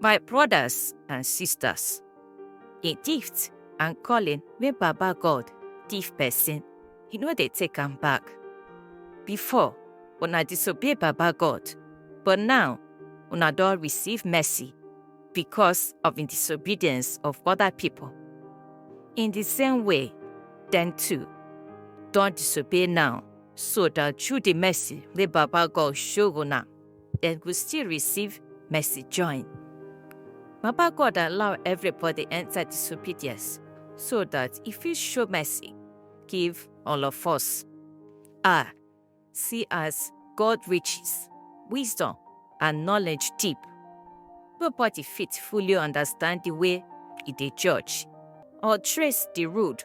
My brothers and sisters, the gift and calling wey Baba God give person, he no dey take am back. Before, una disobey Baba God, but now una don receive mercy because of the disobedience of other people. In the same way, them too don disobey now, so that through the mercy wey Baba God show una, dem go still receive mercy join. Baba God allow everybody enter disobedience so that e fit show mercy give all of us. Ah, see as God riches, wisdom, and knowledge deep. Nobody fit fully understand the way e dey judge or trace the road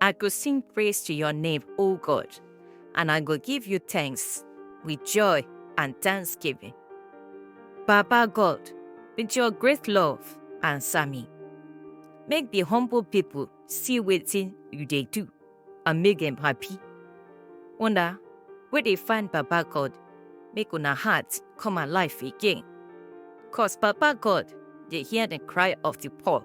I go sing praise to your name, O God, and I go give you thanks with joy and thanksgiving. Baba God, with your great love, answer me. Make the humble people see wetin you dey do and make them happy. Una wey dey find Baba God, make una heart come alive again. Cause Baba God dey hear the cry of the poor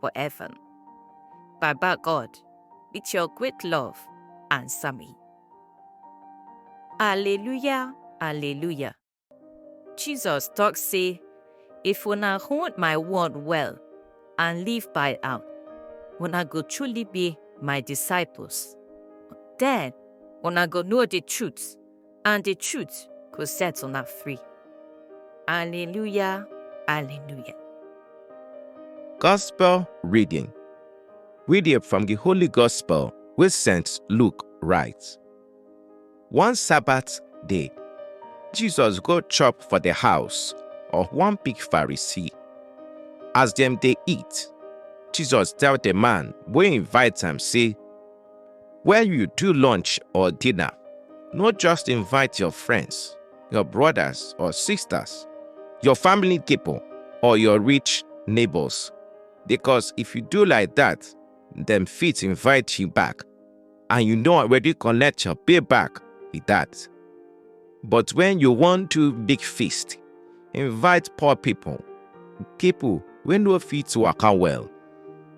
for heaven. Baba God, with your great love, answer me. Alleluia, Alleluia. Jesus talk say, if una hold my word well and live by am, una go truly be my disciples. Then una go know the truth and the truth go set una free. Hallelujah, hallelujah. Gospel reading. Reading from the Holy Gospel with St. Luke writes. One Sabbath day, Jesus go chop for the house of one big Pharisee. As them they eat, Jesus tell the man wey invite am say, When you do lunch or dinner, no just invite your friends, your brothers or sisters, your family people, or your rich neighbors. Because if you do like that, them fit invite you back. And you know already collect your payback with that. But when you wan do big feast, invite poor people, people wey no fit waka well,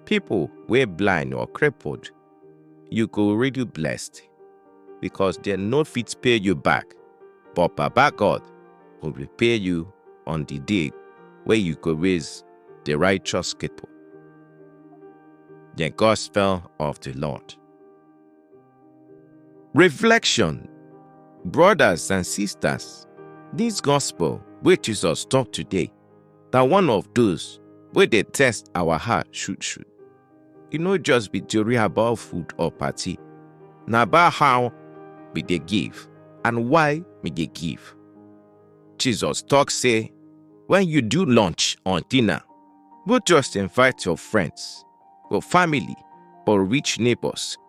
people wey blind or crippled. You go really blessed because dem no fit pay you back, but Baba God go repay you on the day wey you go raise the righteous people. The Gospel of the Lord. Reflection Brothers and sisters, this gospel wey Jesus talk today na one of those wey dey test our heart shoot shoot. E no just be theory about food or party, na about how we dey give and why we dey give. Jesus talk say when you do lunch or dinner, no just invite your friends, your family or rich neighbors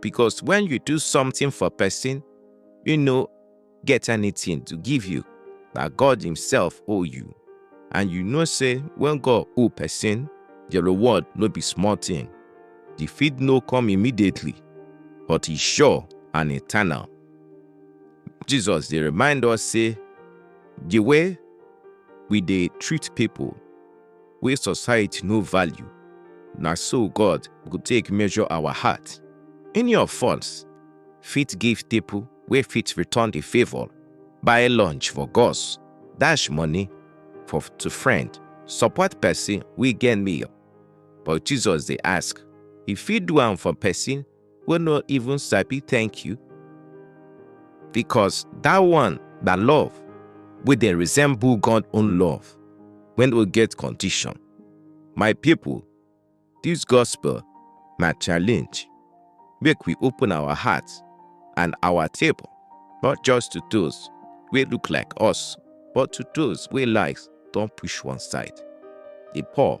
because when you do something for person, you no get anything to give you, na God himself owe you. And you know say when God owe person, the reward no be small thing. The feed no come immediately, but e sure and eternal. Jesus dey remind us say the way we dey treat people wey society no value, na so God go take measure our heart. Any of us fit give people wey fit return the favour, buy lunch for gods, dash money for to friend, support person wey get need. But Jesus dey ask, you fit do am for person wey no even sabi thank you because that one na love wey dey resemble God own love wey no get condition. My people, this gospel na challenge. Make we open our hearts and our table, not just to those wey look like us, but to those wey lives don push one side. The poor,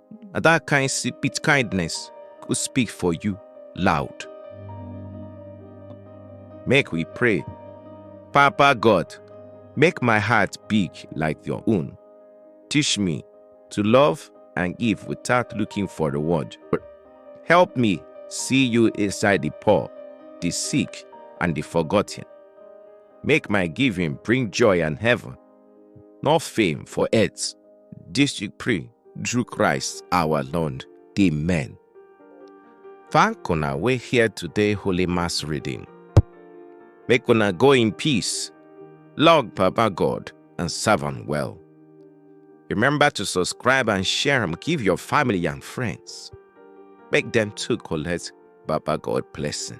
na that kind si- with kindness go speak for you loud. Make we pray. Papa God, make my heart big like your own. Teach me to love and give without looking for reward. Help me see you inside the poor, the sick, and the forgotten. Make my giving bring joy and heaven Not fame for earth. This you pray through Christ our Lord. Amen. Thank una we here today Holy Mass reading. Make una go in peace. Lord Papa God and serve am well. Remember to subscribe and share and give your family and friends. Make them too collect Baba God blessing.